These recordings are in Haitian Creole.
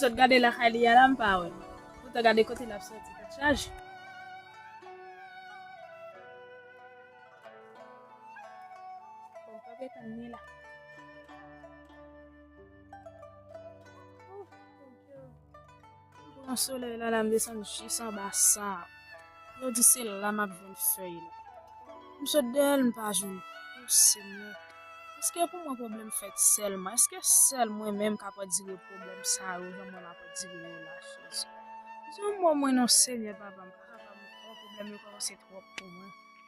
Sot gade lakay li a la m pa wè l. Poutan gade kote l ap soti tèt chaje. Bon, pa pe tann ni la. M pran solèy la la m desann jis anba sab yo di se la map jwenn fèy la m sot dèyèl m pa jwenn oh senyè eske pou mwen pwoblèm fèt sèlman eske sèl mwen menm kap andire pwoblèm sa yo jan mwen map andire yo la jezi di yon mo mwen non senyè papa m paka pa m anko pwoblèm yo kòmanse twòp pou mwen.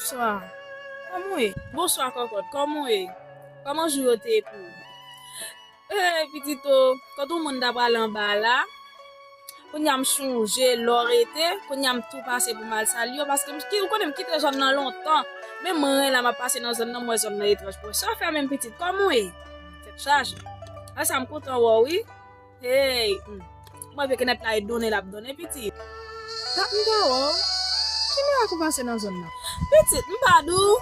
Bonswa, kòman ou ye? Bonswa kòkòt, kòman ou ye? Kòman jou yo te ye pou ou? Hey pitit o, kot ou moun ta pral anba la, kounya m chonje lè w rete, kounya m tou pase pou m al salye w, paske m ou konnen m kite zòn nan lontan, men m ren la m ap pase nan zòn nan m wè zòn nan etranj pou mwen. Sa w fè menm pitit, kòman w ye? Tèt chaje. Sa m kontan wè w wi. Hey! Mwen vle kenèp la e donnen lap donnen pitit. Dat m pa wè w. Ki mirak ou pase nan zòn nan? Pitit, m pa di w.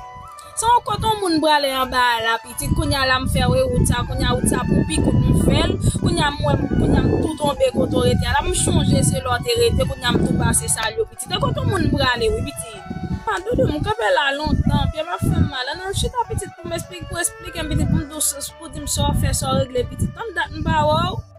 Se yon kot yon moun prale anba a la pitit, kounye a la m fè w e wout sa, kounye a wout sa pou pi kout m fè l, kounye a m wè m, kounye a m tou tonbe kote w rete a la, m chonje se la w te rete, kounye a m tou pase salye w pitit. E kot yon moun prale wi pitit? A doudou, m kanpe la lontan, pye m ap fè m mal. An nou chita pitit pou m esplike, pou w esplike m pitit, pou m di w, pou w di m sa w fè, sa w regle pitit. Tann dat m pa wè w.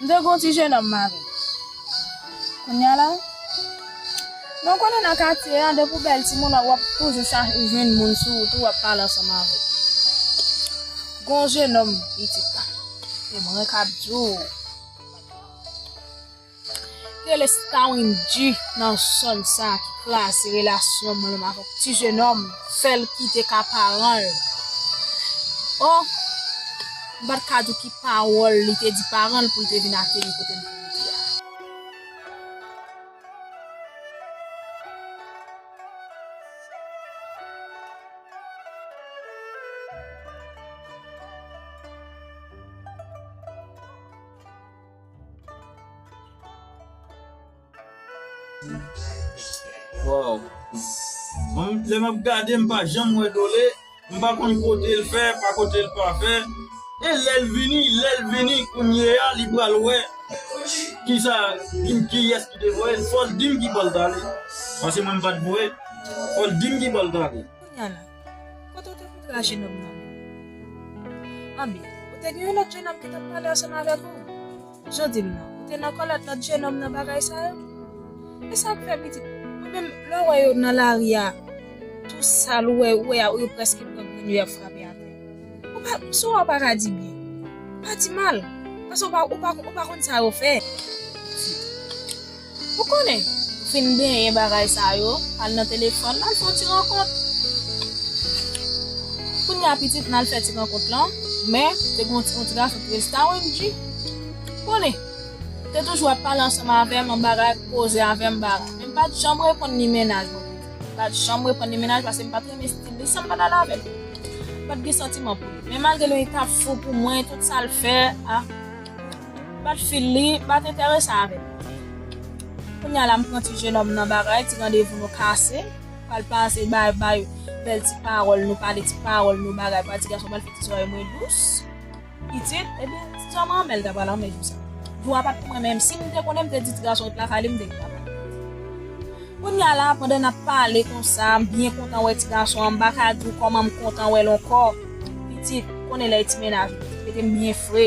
M te gen yon ti jenòm mari. Kounya la, men w konnen nan katye a, depi w bèl timoun, w ap toujou chache jwenn moun sou wout ou, w ap pale ansanm avè l. Gen yon jenòm pitit la, e mwen k ap di w. rele Star Wendyy nan zòn sa ki klase relasyon mwen ak yon ti jenòm fè l kite ka paran l oh m pa t ka di w ki pawòl li te di paran l pou l te vin ateri kote m te rete a. Waw Mwen lè map gade m pa janm wè dole m pa konn kote l fè pa kote l pa fè e lè l vini lè l vini kounye a li pral wè kisa kiyès ki te voye l fòl dim ki bò l t ale paske mwen m pat voye fòl dim ki bò l t ale. Kote w te fout ra jenòm nan menm? Anben, ou te gen yon lòt jenòm ki t ap pale ansanm avèk ou. Jan w di m nan, ou te nan kòlèt lòt jenòm nan bagay sa yo? E sa k fè pitit ou menm lè w wè yo nan lari a tou sal ou wè yo prèske pran grenn yo y ap frape atè? Ou pa, sou a ou pa ka di byen. Ou pa di mal. Paske ou pa konn sa yo fè. Pitit. Ou konnen, fin benyen bagay sa yo, al nan telefòn, al fè yon ti rankont. Kounye a pitit nan al fè ti rankont lan, men, te gen yon ti gason ki rele Star Wendyy. Ou konnen, li te toujou ap pale ansanm avè m an bagay, ap koze avè m bagay. Men m pa t janm reponn ni mennaj mwen. M pa t janm reponn ni mennaj paske m pa t renmen stil li san m pa t ale avè l. M pa t gen santiman pou li. Men malgre li te ap fou pou mwen, tout sa l fè a. M pat fil li, m pat enterese avè l. Kounye a la m pran ti jenòm nan bagay, ti randevou nou kase, pral pase bay bay bèl ti pawòl, nou pale ti pawòl, nou bagay, pral ti gason pral fè ti zòrèy mwen dous. Pitit, epi ti zòrèy mwen anmèl ta pral anmè jou sa. Jou a pat pou mwen menm si m te konnen m te di ti gason ret lakay li m te gen bagay. Kounye a la pandan n ap pale konsa, m byen kontan wè ti gason an, m pa ka di w kòman m kontan wè l ankò. Pitit, konnen lè e ti mennaj ou, mete m byen fre.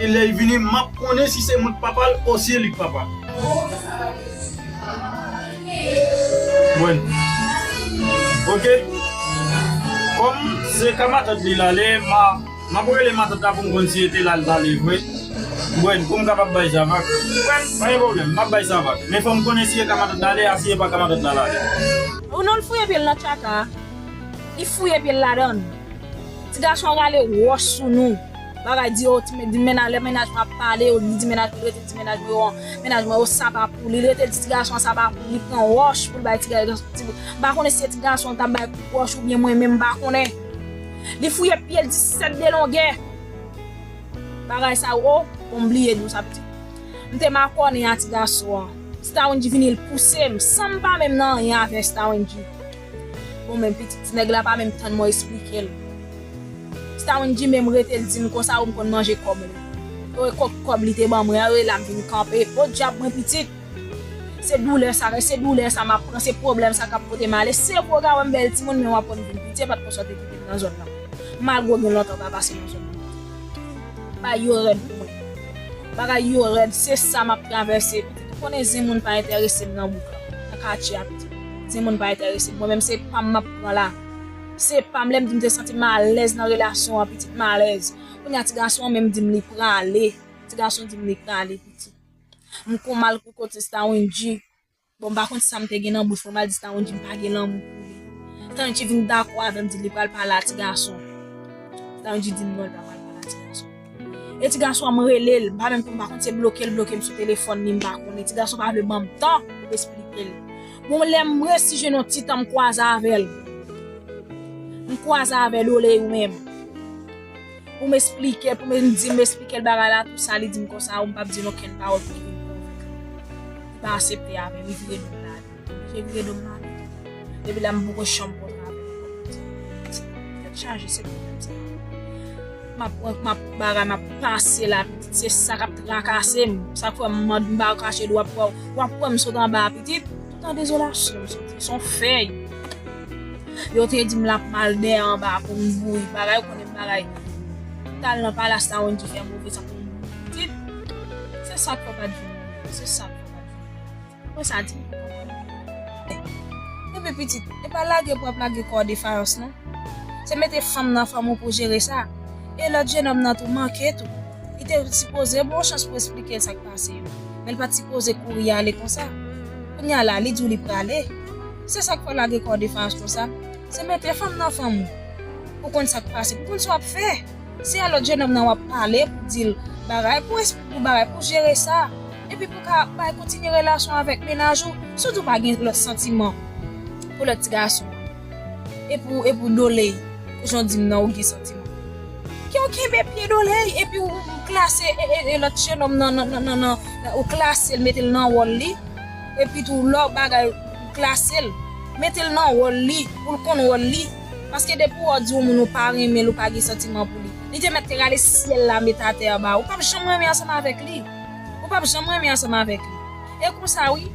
E lèl vini map konnen si se mwen ki papal o si se li ki papal. Mwen. Ok Kom se ka matant li lale ma map rele matant la poum konn si ete lal lale vre Mwen poum kapab bay Savak Mwen pa gen pwoblèm map bay Savak men fòm konnen si e ka matant lale a si e pa ka matant la lale. Ou non l fouye pyel nan tchaka a li fouye pyel ladann ti gason rale wòch sou nou. Bagay di yo di mennaj lè mennaj mwen ap pale yo li di mennaj mwen li rete di mennaj mwen yo mennaj mwen yo sa pa pou li li rete di ti gason an sa pa pou li li pran wòch pou l bay ti gason ti m pa konnen si se ti gason l t ap bay kout wòch oubyen mwen menm m pa konnen li fouye pye l 17 de longè bagay sa yo o bon m bliye di w sa pitit m te makònen a ti gason an Stawendji vini l pouse m san m pa menm nan anyen avè Stawendji. Bon men pitit ti nèg la pa menm tann mwen esplikel. Stawenndji menm rete l dim konsa ou m konn manje kòb mwen. Yo e kòk kòb li te ban mwen an yo e la m vin kanpe. Podyab mwen pitit! Se doulè sa rèse doulè sa map pran se pwoblèm sa kap pote male se pou yo ka wèm bèl timoun men wap wèm vin pitye pat konsa w te kitem nan zòn nan malgre w gen lontan w pa pase nan zòn nan. Bagay yo rèd pou mwen. Bagay yo rèd se sa map travèse pitit ou konnen zen moun pa entèresem nan bouk lan nan katye a pitit. Timoun pa entèrese m. Mwen menm se pa m m ap pran la. Se pa m lè m di m te santi m alèz nan relasyon an pitit m alèz. Kounye a ti gason an menm di m li prale. Ti gason di m li prale pitit. M kon mal pou kote Stawindji. Bon m pa konn sa m te gen nan bouch mwen m al di Stawindji m pa gen lanmou pou li. Stawindji vin dakò avè m di li pral pale a ti gason. Stawindji di m non li pa pral pale a ti gason. E ti gason an m rele l, m pa menm konn pa kont se bloke l bloke m sou telefòn ni m pa konn. E ti gason pa vle ban m tan pou m esplike l. Bon lè m resi jwenn yon ti tan m kwaze avè l. M kwaze avè Lole ou menm. Pou m esplike, pou m di m esplike l bagay la tou sa li di m konsa ou m pa p di l okenn pawòl pou l. Li pa asepte avè m li vire do l. Jè vire dom nan ale. Depi la m poko chanm konn nan apèl anko pou timoun. Tèt chaje se pwoblèm sa. Map pran map bagay map pase la pitit se sa kap trakase m. Sa k fè m mand m pa kache dwòp wè w. Wap wè m sot anba a pitit. Tout an dezolasyon m soti. Son fèy. Yo te di m lap mal dèyè anba a pou m bouyi. Bagay ou konnen bagay. M tal nan palas la Wendy fè move sa pou m bouyi pitit. Se sa k fè w pat vin nan men m. Se sa k fè w pat vin nan men m. Mwen sa di nou papa nou yo konnen. Kenbe pitit ou. E pa lage pou ap lage kò w defayans non. Se mete fanm nan fanm ou pou jere sa. E lòt jenòm nan tou manke tou. Li te sipoze bon chans pou esplike l sa k pase yo. Men l pa t sipoze kouri ale konsa. Kounye a la li di w li prale. Se sa k fè w lage kò w defayans konsa. Se mete fanm nan fanm ou. Pou konn sa k pase. Pou konn sa w ap fè. Se a lòt jenòm nan wap pale pou dil bagay pou esplike ou bagay pou jere sa epi pou ka bay kontinye relasyon avèk mennaj ou si w di w pa gen lòt santiman pou lòt ti gason an e pou doley jan w di m nan ou gen santiman ke w kenbe pye doley epi ou klase e lòt jenòm nan ou klase l mete l nan wòl li epi tou lò bagay ou klase l mete l nan wòl li pou l konn wòl li. Paske depi wè w di yon moun ou pa renmen l ou pa gen santiman pou li, li te mèt te rale syèl la met atè anba ou pap janm renmen ansanm avèk li ou pap janm renmen ansanm avèk li e konsa wi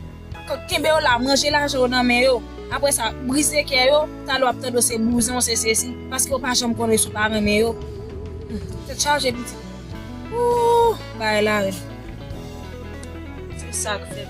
kòk kenbe yo la manje lajan yo nan men yo aprè sa brize kè yo talè wap tande w se bouzen w se sesi paske ou pa janm konnen si w pa renmen yo tèt chaje pitit ooh bagay la rèd se sak fèm.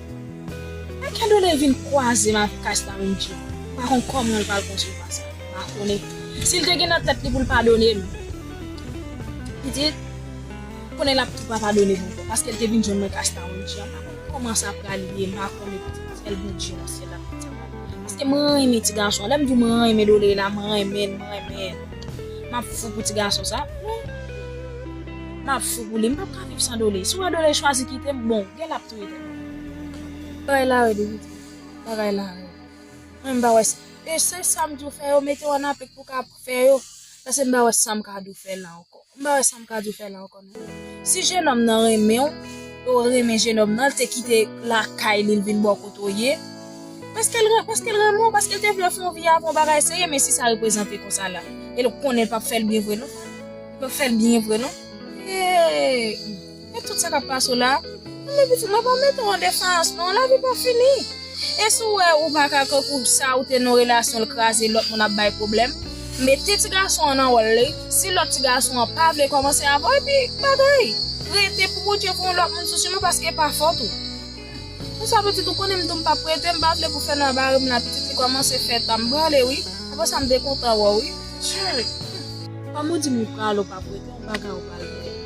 Lè Kendone vin kwaze Marcas nan menm djip, m pa konn kòman l pral konsevwa sa. M pa konnen si l te gen nan tèt li pou l padone m. Pitit, m konnen l ap tou pa padone m ankò paske l te vin jwenn Marcas nan menm djip. M pa konn kòman sa pral ye, m pa konnen pitit. Sèl Bondye nan syèl la konn sa pral ye. Paske m renmen ti gason an. Lè m di w m renmen Done la, m renmen l, m renmen l. M ap fou pou ti gason sa. M ap fou pou li. M pap ka viv san Done. Si w wè Done chwazi kite m, bon, gen l ap. Bagay la rèd wi. Bagay la rèd. Mwen m pa wè sa. E se sa m di w fè yo mete w an aplik pou w ka fè yo. Pase m pa wè sa m ka di w fè la ankò. M pa wè sa m ka di w fè la ankò non. Si jenòm nan renmen w, e w renmen jenòm nan, l te kite lakay li l vin bò kote w ye, paske l renmen w, paske l te vle w fè yon vi avè w, bagay serye men si sa reprezante konsa la, e l konnen l p ap fè l byen vre non. L p ap fè l byen vre non. Eeyy. Ak tout sa kap pase w la, tande pitit mwen pa mete w an defans non, lavi pa fini. E si w wè ou pa ka kankou sa ou te nan relasyon l kraze lòt moun ap bay pwoblèm, mete ti gason an nan wòl li, si lòt ti gason an pa vle kòmanse avè w epi bagay, prete pou Bondye pou yon lòt moun sou siman paske e pa fòt ou. Bonswa pitit ou konnen m di w m pap prete, m pa vle pou Fènan ap are m nan pitit li kòmanse fè tan m prale wi, aprè sa m te kontan wè w wi. Cheri! Fanm ou di m li prale w pa prete yon bagay ou pral veye.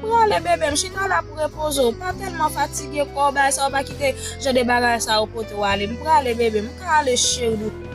Prale bebem chita la pou repoze w pa telman fatige kò w bay sa w pa kite jan de bagay sa yo pote w ale m prale bebe m ka ale cheri doudou.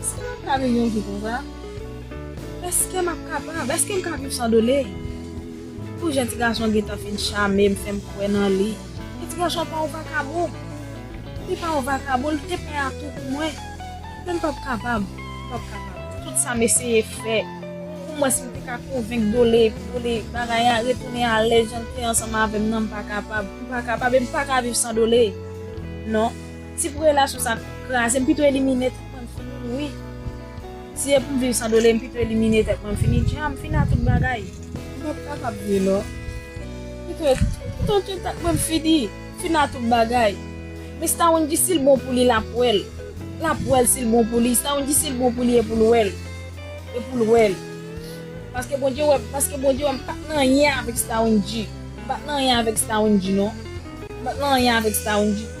Eske m ka viv yon vi konsa? Eske m ap kapab? Eske m ka viv san dole? Pou jan ti gason an gentan fin chame m, fè m kwè nan li. Men ti gason an pa yon vakabon. Li pa yon vakabon, li te pè atou pou mwen. Men m p ap kapab, m p ap kapab. Tout sa m eseye fè, omwens m te ka konvenk Dole epi Dole bagay a retounen alè jan l te ansanm avè m nan, m pa kapab. M pa kapab e m pa ka viv san Dole. Non. Tip relasyon sa kraze m pito elimine tèt mwen m fini l wi Si e pou m viv san dole m pito elimine tèt mwen m fini l Dja m fini a tout bagay. M pap kapab vre non M pito pito tye tèt mwen m fini fini a tout bagay Mista Wendyy si l bon pou li l ap wè l L ap wè l si l bon pou li Mista Wendyy si l bon pou li e pou l wè l E pou l wè l Paske Bondye wè paske Bondye wè m pat nan anyen avèk Mista Wendyy M pat nan anyen avèk Mista Wendyy non M pat nan anyen avèk Mista Wendyy.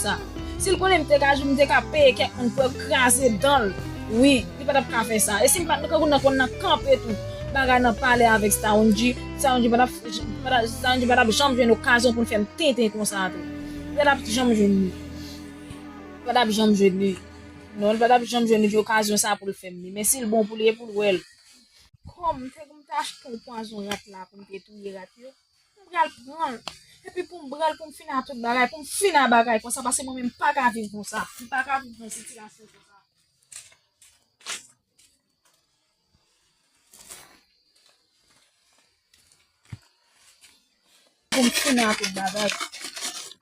sa sil konnen m te ka jou m te ka peye kèk moun pou yo kraze danl wi li pa tap ka fè sa e sim pat nan kangou nan konn nan kanpe tou bagay nan pale avèk Staronji Staronji pa tap Staronji pa tap janm jwenn okazyon poul fèm tenten konsa tou li pa tap janm jwenn li li pa tap janm jwenn li non li pa tap janm jwenn li okazyon sa poul fèm li men sil bon pou li e poul wèl kòm m te konn ta achte pwazon rat la poum te touye rat yo. m pral pran l epi pou m bral pou m fin a tout bagay pou m fin a bagay konsa paske mwen menm m pa ka viv konsa m pa ka viv nan sitirasyon konsa. Pou m fin a tout bagay.